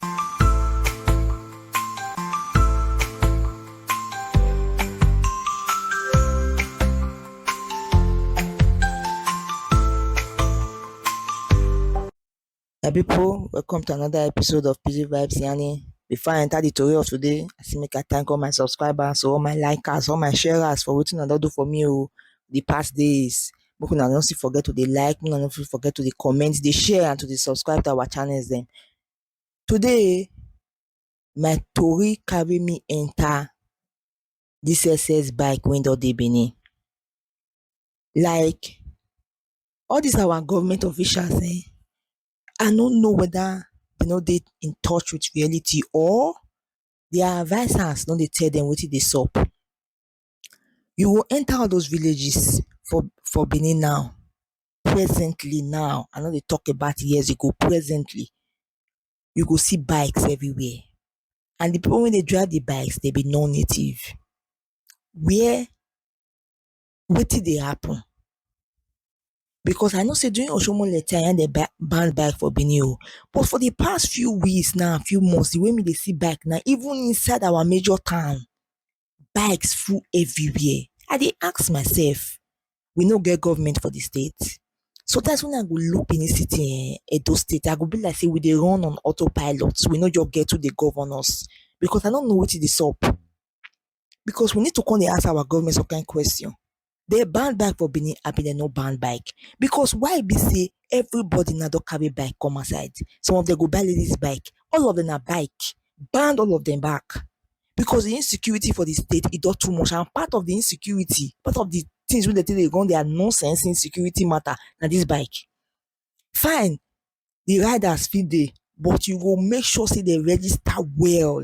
My people, welcome to another episode of PG Vibes Yani. Before I enter the story of today, I say make I thank all my subscribers, all my likers, all my sharers for wetin una don do for me o oh, the past days. Make una no still forget to dey like, make una no forget to dey comment, dey share and to dey subscribe to our channels dem. Today my tori carry me enter this excess bike wey don dey Benin. Like all this our government officials um I no know whether dem no dey in touch with reality or their advisers no dey tell dem wetin dey sup. You go enter all those villages for for Benin now presently now I no dey talk about years ago presently you go see bikes everywhere and the people wey dey drive the bikes dem be non native where wetin dey happen because I know say during oshiomhole time na him dem ban ban bike for Benin o but for the past few weeks now few months the way me dey see bike now even inside our major town bikes full everywhere i dey ask myself we no get government for the state? sometimes when i go look benin city um edo state i go be like say we dey run on auto pilot we no just get who dey govern us because i no know wetin dey sup because we need to come dey ask our government some kind question dey ban bike for Benin abi dem no ban bike because why be sey everybody now don carry bike come outside some of dem go buy ladies bike all of dem na bike ban all of dem back because de insecurity for de state e don too much and part of de insecurity part of de things wey dem take dey run their nonsense insecurity matter na this bike fine de riders fit dey but you go make sure sey dem register well.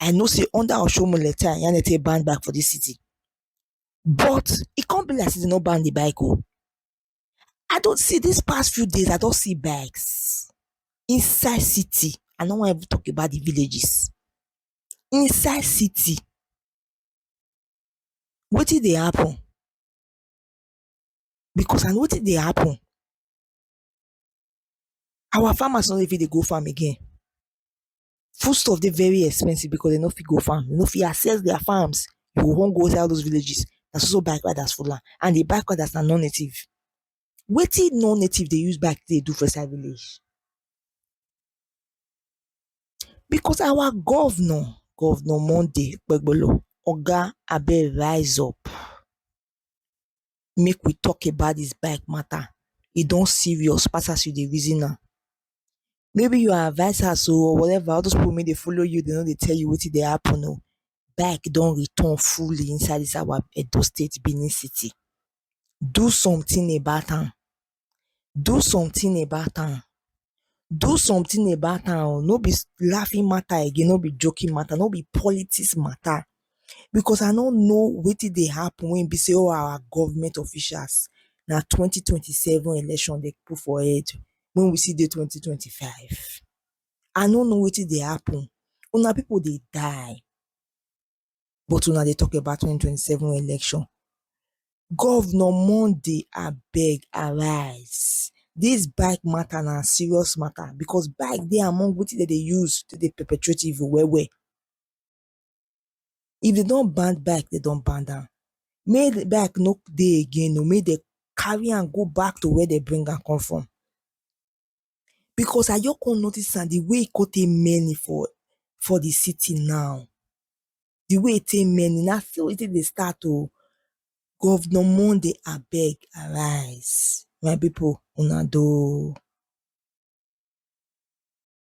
I know say under Oshomole time, yan dey take ban bike for this city. But e come be like say dem no ban the bike oh. I don see this past few days, I don see bikes inside city. I no wan even talk about the villages. Inside city. Wetin dey happen? Because na wetin dey happen, our farmers no dey fit dey go farm again. food stuff dey very expensive because dem no fit go farm, dem no fit access their farms, you go come go inside all those villages na so so bike riders full am and di bike riders na non native. Wetin non native dey use bike dey do for inside village? Because our governor, governor Monday okpebholo oga abeg rise up. make we talk about this bike matter e don serious pass as you dey reason am maybe your advisers o or whatever all those people wey dey follow you dey no dey tell you wetin dey happen o bike don return fully inside this our Edo state Benin city do something about am do something about am do something about am oh no be laughing matter again no be joking matter no be politics matter because I no know wetin dey happen wey be sey all our government officials na twenty twenty seven election dem put for head when we still dey twenty twenty five I no know wetin dey happen una people dey die but una dey talk about twenty twenty seven election governor monday abeg arise this bike matter na serious matter because bike dey among wetin dem dey use take dey perpetrate evil well well if dem don ban bike dem don ban am make bike no dey again oo make dem carry am go back to where dem bring am come from because I just come notice am di way e come take many for for di city now di way e take many na so e take dey start oh governor monday abeg arise my people una doh oh.